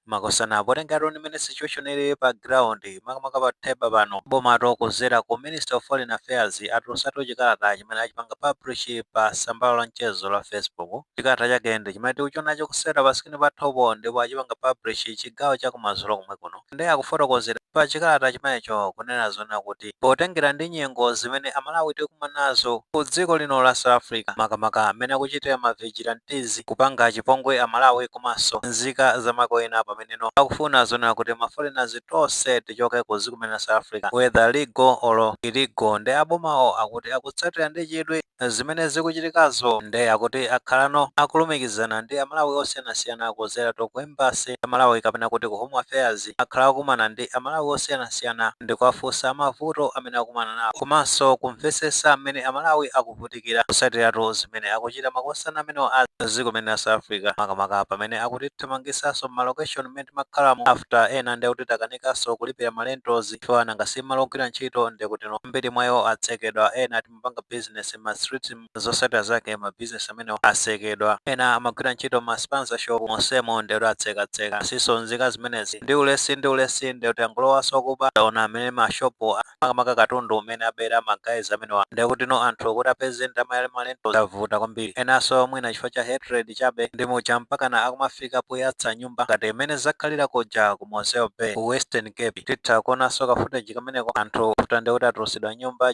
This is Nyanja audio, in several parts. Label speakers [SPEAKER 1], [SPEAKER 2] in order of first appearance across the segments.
[SPEAKER 1] makosana potengera tuni mmene situation ilili pa ground makamaka pa theba pano abomatu kuzera ku minister of foreign affairs atulusatu chikalata chimene achipanga publish pa sambalo la mchezo la facebook chikalata chake ndi chimene tikuchionacho kuseri pa screen pathupo ndipo achipanga publish chigawo cha kumazulo komwe kuno nde akufotokozera pa chikalata chimenecho kunena zonena kuti potengera ndi nyengo zimene amalawi tikumanazo ku dziko lino la south africa makamaka mmene akuchitira ma vigilantes kupanga chipongwe amalawi komanso nzika za maiko ena pameneno akufuna zonena kuti ma foreigners tonse tichoke ku dziko limene la south africa whether legal or illegal nde abomawo akuti akutsatira ndi chidwi zimene zikuchitikazo nde akuti akhalano akulumikizana ndi amalawi osiyanasiyana kudzeratu ku embassy ya amalawi kapena kuti ku home affairs akhala akukumana ndi a Malawi osiyanasiyana ndikuwafunsa mavuto amene akukumana nawo komanso kumvetsesa mmene a Malawi akuvutikira kusatiratu zimene akuchita makosana amenewa a dziko limene la South Africa makamaka pamene akutithamangisaso mma location mmene timakhalamo after ena nde kuti takanikaso kulipira ma rentals chifukwa nanga si malo ogwira ntchito ndekutino ambiri mwa iwo atsekedwa ena kupanga business mma street, zotsatira zake ma business amenewa atsekedwa, ena amagwira ntchito mma spaza shop monsemo ndiye kuti atseka tseka basiso nzika zimenezi, ndi ulesi ndi ulesi ndiye kuti angolowaso kuba, taona mmene ma shop a makamaka katundu umene abera ma guys amenewa ndiye kutino anthu kuti apeze ndalama ya ma rentals zavuta kwambiri, enaso mwina chifukwa cha hatred chabe ndi muja mpakana akumafika poyatsa nyumba ngati mmene zakhalira kuja ku Mossel Bay ku Western Cape, titha kuonaso ka footage kameneko anthu avutika ndiye kuti atulutsidwa nyumba.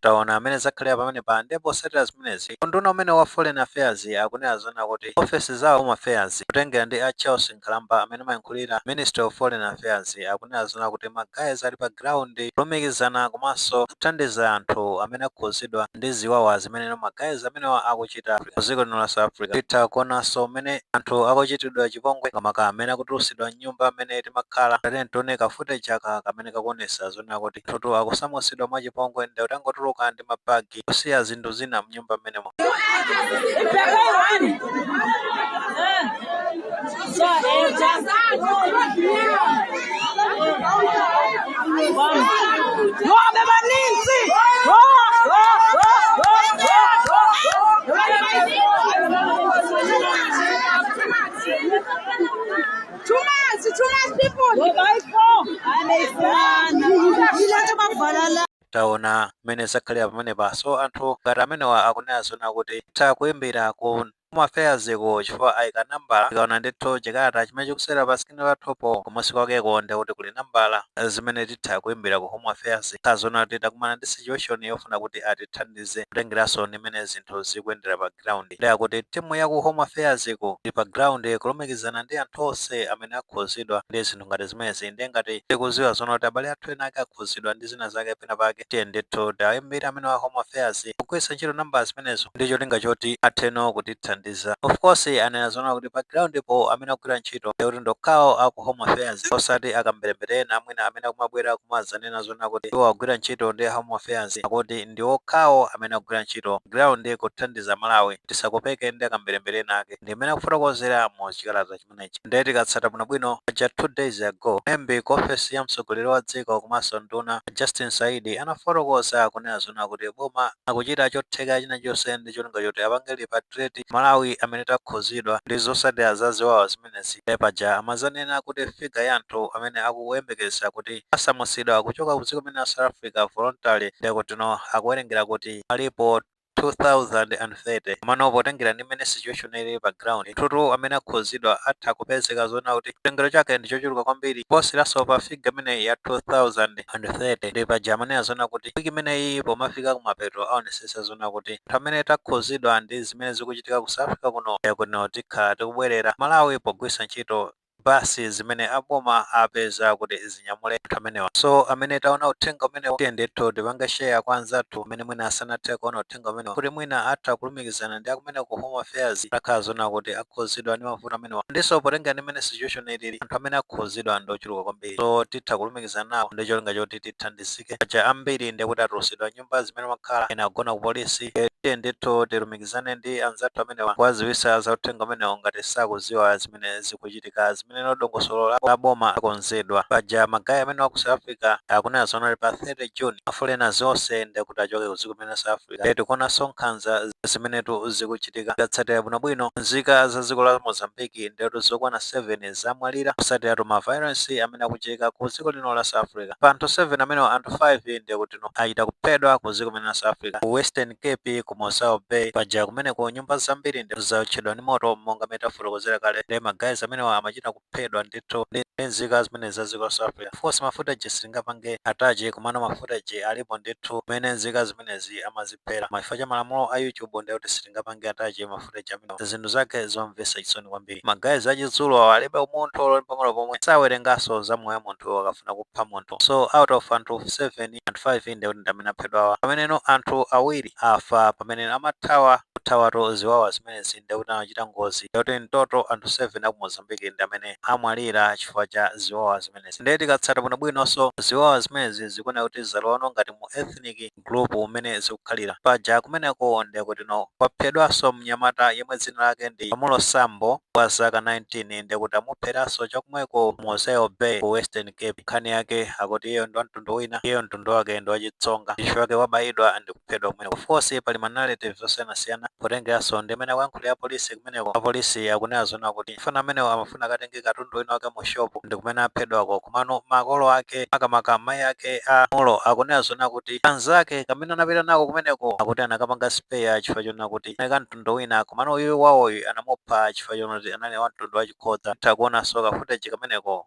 [SPEAKER 1] taona mmene zakhalira pamenepa ndipo posatira zimenezi unduna umenewu wa foreign affairs akunena zona kuti ofesi za home affairs kutengera ndi a charles nkhalamba amene amayankhulira ministry of foreign affairs akunena zona kuti magayiz ali pa ground kulumikizana komanso kuthandiza anthu amene akhudzidwa ndi ziwawa zimene magayiz amenewa akuchita kuchita mu dziko lino la South Africa. Titha kuonanso m'mene anthu akuchitidwa chipongwe makamaka amene akutulutsidwa m'nyumba m'mene timakhala. Tatiyeni tione ka footage aka kamene kakuonetsa zonena kuti anthutu akusamutsidwa mwachipongwe nde atangotuluka ndi ma bag kusiya zinthu zina m'nyumba m'menemo. taona mmene zakhalira pamenepa so anthu ngati amenewa akunena zona kuti titha kuimbira ku home affairs ko chifukwa aika nambala tikaona ndithu chikalata chimene chikusewera pa screen pathupo kumunsi kwakeko nde kuti kuli nambala zimene titha kuimbira ku home affairs tikaona zoona kuti takumana ndi situation yofuna kuti atithandize kutengeranso ndi mmene zinthu zikuyendera pa ground nde akuti timu ya ku home affairs ko ili pa ground kulumikizana ndi anthu onse amene akhuzidwa ndi zinthu ngati zimenezi nde ngati tikuziwa zoona kuti abale athu ena ake akhuzidwa ndi zina zake pena pake tiyeni ndithu tiwaimbire amenewa a home affairs kugwiritsa ntchito nambala zimenezo ndi cholinga choti atheno kutithandiza of course anena zoona kuti pa ground po amene akugwira ntchito akuti ndi okhawo aku home affairs osati akamberembere ena mwina amene akumabwera kumadzanena zoona kuti iwo akugwira ntchito ndi home affairs akuti ndi okhawo amene akugwira ntchito ground kuthandiza Amalawi tisakopeke ndi akamberembere ena ake ndi mmene akufotokozera mu chikalata chimenechi ndiye tikatsata bwinobwino paja 2 days ago mlembi ku ofesi ya mtsogoleri wa dziko komanso nduna a Justin Saidi anafotokoza kunena zoona kuti boma akuchita chotheka china chonse ndi cholinga choti apange repatriate Amalawi amene takhuzidwa ndi zosatira za ziwawa zimenezi ndiye paja amazanena kuti figure ya anthu amene akuyembekeza kuti asamutsidwa kuchoka ku dziko limeneli la South Africa voluntarily ndiye kutino akuwerengera kuti alipo 2030 komano potengera ndi mmene situation ilili pa ground ndithutu amene akhuzidwa atha kupezeka zoona kuti chiwelengero chake ndi chochuluka kwambiri kuposeranso pa figure imeneyi ya 2030 nde paja amanena zoona kuti week imeneyi pomafika kumapeto aonesesa zoona kuti anthu amene takhuzidwa ndi zimene zikuchitika ku South Africa kuno tikhala tikubwelera ku Malawi pogwirisa ntchito bus zimene a boma apeza kuti zinyamule anthu amenewa. So amene taona uthenga umenewu tiyeni ndithu tipange share kwa anzathu amene mwina sanathe kuona uthenga umenewu kuti mwina atha kulumikizana ndi akumene ku Home Affairs atakhala zoona kuti akhuzidwa ndi mavuto amenewa. And nso potengera ndi mmene situation ilili anthu amene akhuzidwa ndi ochuluka kwambiri so titha kulumikizana nawo ndi cholinga choti tithandizike. Paja ambiri ndekuti atulusidwa nyumba. nyumba zimene amakhala ena akugona ku polisi Eh, tiyeni ndithu tilumikizane ndi anzathu amenewa kuwaziwisa za uthenga umenewo ngati sakuziwa zimene zikuchitika zimene ndi dongosolo la la boma akonzedwa paja magayi amenewa a ku south africa akunena zoona kuti pa 30 june ma foreigners onse ndi kuti achoke ku dziko limeneli la south africa Eh, tikuonanso nkhanza zimenetu zikuchitika tikatsatira bwinobwino nzika za dziko la mozambiki ndetu zokwana 7 zamwalira kusatiratu ma violence amene akuchitika ku dziko lino la south africa pa anthu 7 amenewa anthu 5 ndekuti achita kuphedwa ku dziko limeneli la South Africa ku Western Cape ku Mossel Bay paja kumeneko nyumba zambiri ndithu zaotchedwa ndi moto monga mene tafotokozera kale nde ma guys amenewa amachita kuphedwa ndithu ndi ndi nzika zimenezi za dziko la South Africa of course ma footage sitingapange attach komano ma footage alipo ndithu mene nzika zimenezi amaziphera koma chifukwa cha malamulo a YouTube ndiye kuti sitingapange attach mafu Alexandre Jamino zinthu zake zomvetsa chisoni kwambiri. Ma guys achizulu awa alibe umunthu olo pang'ono pomwe, sawerenganso za moyo wa munthu akafuna kupha munthu. So out of anthu 7, anthu 5 ndekuti ndi amene aphedwawa, pameneno anthu awiri afa pamene amathawa kuthawatu ziwawa zimenezi ndiye kuti anachita ngozi yoti in total anthu 7 a ku Mozambique ndi amene amwalira chifukwa cha ziwawa zimenezi. Ndiye tikatsata bwinobwinonso ziwawa zimenezi zikuoneka kuti zalowanso ngati mu ethnic group umene zikukhalira paja kumeneko ndekutino kwaphedwaso mnyamata yemwe dzina lake ndi Nhlamulo Sambo wa zaka 19 ndekuti amupheraso chakumweko ku Mossel Bay ku Western Cape nkhani yake akuti iyeyo ndi wamtundu wina iyeyo mtundu wake ndi wachitsonga chifukwa chake wabayidwa ndikuphedwa kumeneko of course pali ma narrative osiyanasiyana potengeraso ndimene akuyankhulira apolisi kumeneko apolisi akunena zona kuti Mfana amenewa amafuna akatenge katundu wina wake mu shop ndikumene aphedwako komano makolo ake makamaka mai ake a Nhlamulo akunena zoona kuti kanzake kamene anapita nako kumeneko akuti anakapanga spare chifukwa chonena kuti kanali ka mtundu wina komano uyu wawoyu anamupha chifukwa chonena kuti anali wa mtundu wa chixhosa. Titha kuonanso ka footage kameneko.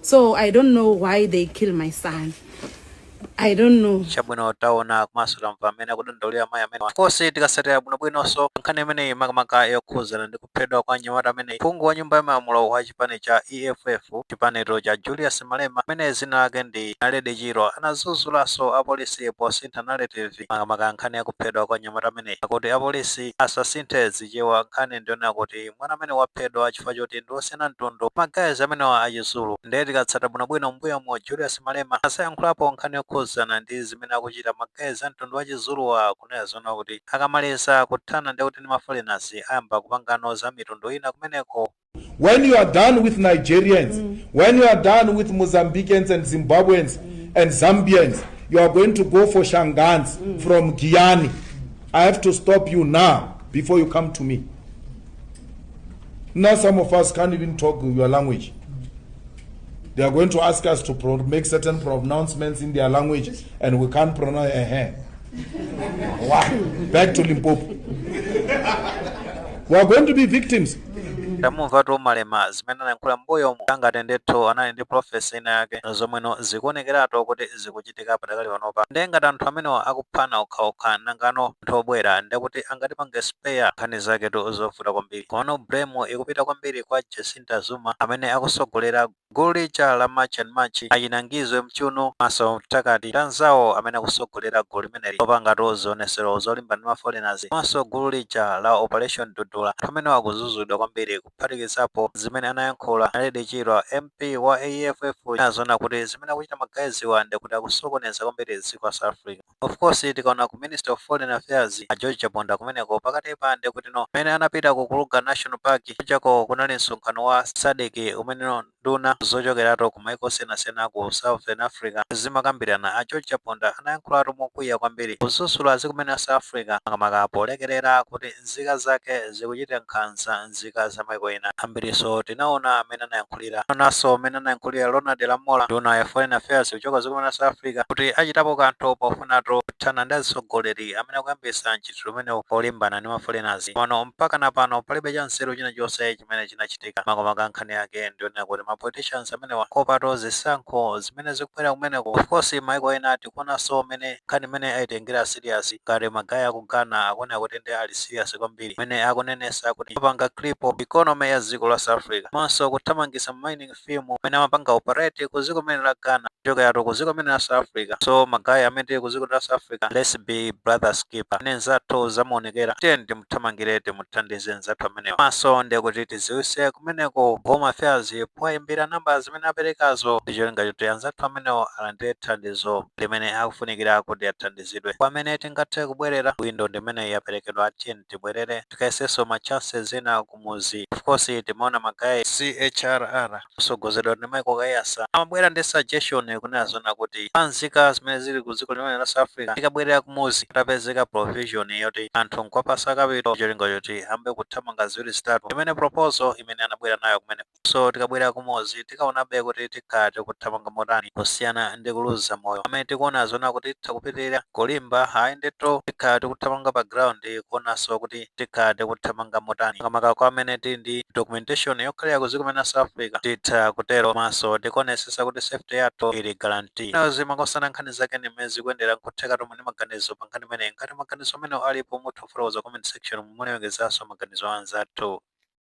[SPEAKER 2] so i don't know why they kill my son i don't know chabwino
[SPEAKER 1] taona komanso tamva mmene akudandaulira mayi amene of course tikasatira bwinobwinonso nkhani imeneyi makamaka yokhuzana ndi kuphedwa kwa nyamata ameneyi phungu wa nyumba ya malamulo wa chipani cha eff chipanitu cha julius malema amene dzina lake ndi naledi chirwa anadzudzulaso apolisi posintha narrative makamaka nkhani ya kuphedwa kwa nyamata ameneyi akuti apolisi asasinthe zichewa nkhani ndiyonena kuti mwana amene waphedwa chifukwa choti ndi osiyana mtundu ma guys amenewa a chizulu nde tikatsata bwinobwino m'mbuyomu Julius Malema anayankhulapo nkhani yokhuzana ndi zimene akuchita ma guys a mtundu wa chizuluwa kunena zoona kuti akamaliza kuthana ndekuti ndi ma foreigners ayamba kupangano za mitundu ina kumeneko. When you
[SPEAKER 3] are done with Nigerians, when you are done with Mozambicans and Zimbabweans and Zambians, you are going to go for Shangans from Giyani. I have to stop you now before you come to me. Now some of us can't even talk your language. They are going to ask us to pro- make certain pronouncements in their language, and we can't pronounce. Uh-huh. Why? Back to Limpopo. we are going to be victims. tamumva
[SPEAKER 1] tomalema zimene anayankhula mbuyo mu angatendethu anali ndi profesa ina yake zomweno zikuonekeratu kuti zikuchi akuchitika padakali panopa nde ngati anthu amenewa akuphana okhaokha nangano anthu obwera ndekuti angatipange spare nkhani zaketu zovuta kwambiri komano blame ikupita kwambiri kwa Jacinta Zuma amene akusogolera gulu lija la March and March achina Ngizwe Mchunu komanso Phakel'umthakathi anzawo amene akusogolera gulu limeneli lopangatu zionesero zolimbana ndi ma foreigners komanso gulu lija la operation dudula anthu amenewa akuzuzulidwa kwambiri kuphatikizapo zimene anayankhula Naledi Chirwa MP wa EFF uja kunena zoona kuti zimene akuchita ma guys wa ndekuti akusokoneza kwambiri dziko la South Africa. Of course tikaona ku Minister of Foreign Affairs a George Chaponda kumeneko pakatipa ndekutino mmene anapita ku Kruger National Park kujako kunali msonkhano wa Sadc umene Nduna zochokeratu ku maiko osiyanasiyana ku Southern Africa zimakambirana. A George Chaponda anayankhulatu mokwiya kwambiri kudzudzula dziko limene la South Africa makamaka polekerera kuti nzika zake zikuchita nkhanza nzika za maiko ena. Ambirinso tinaona mmene anayankhulira. Tinaonaso mmene anayankhulira Ronald Lamola, nduna ya Foreign Affairs kuchoka dziko limene la South Africa kuti achitapo kanthu pofunatu kuthana ndi azitsogoleri amene akuyambitsa tchito imeneyi polimbana ndi ma foreigners, komano mpakana pano palibe chanzeru china chonse chimene chinachitika. Makamaka nkhani yake ndi yoonera kuti ma politicians amenewa kuopatu zisankho zimene zikubwera kumeneko. Of course maiko ena tikuonanso mmene nkhani imeneyi aitengera serious, ngati magaye aku Ghana akuoneka kuti nde ali serious kwambiri mmene akunenetsa kuti apanga cripple economy ya dziko la South Africa komanso kuthamangitsa ma mining firm amene amapanga operate ku dziko limene la Ghana kuchokeratu ku dziko limene la South Africa so magaye amene tili ku dziko la South Africa let's be brother's keeper amene nzathu zamuonekera tiyeni timuthamangire timuthandize nzathu amenewo komanso ndiye kuti tiziwise kumeneko home affairs powayimbira namba zimene aperekazo ndi cholinga choti anzathu amenewo alandire thandizo limene akufunikira kuti athandizidwe pamene tingathe kubwerera windo ndi imeneyi yaperekedwa tiyeni tibwerere tikayesenso ma chances ena ku- kumuzi of course timaona magaye a CHRR kusogozedwa ndi Michael Kaiyatsa amabwera ndi suggestion kunena zoona kuti pa nzika zimene zili ku dziko limene la South Africa zikabwerera kumuzi patapezeka provision yoti anthu nkwapasa capital cholinga choti ayambe kuthamanga ziwiri zitatu imene proposal imene anabwera nayo kumene So tikabwerera kumudzi tikaonabe kuti tikhala tikuthamanga motani kusiyana ndi kuluza moyo. Amene tikuona zoona kuti titha kupitirira kulimba, ayi ndithu tikhala tikuthamanga pa ground kuonanso kuti tikhala tikuthamanga motani. Makamaka kwa amene tili ndi documentation yokhalira ku dziko limene la South Africa titha kutero komanso tikuonetsetsa kuti safety yathu ili guarantee. Now, zimakhosana nkhani zake ndi mmene zikuyendera nkuthekatu muli ndi maganizo pa nkhani imeneyi. Ngati maganizo amenewo alipo mutha kufotokoza comment section umu, mulemekezenso maganizo a anzathu.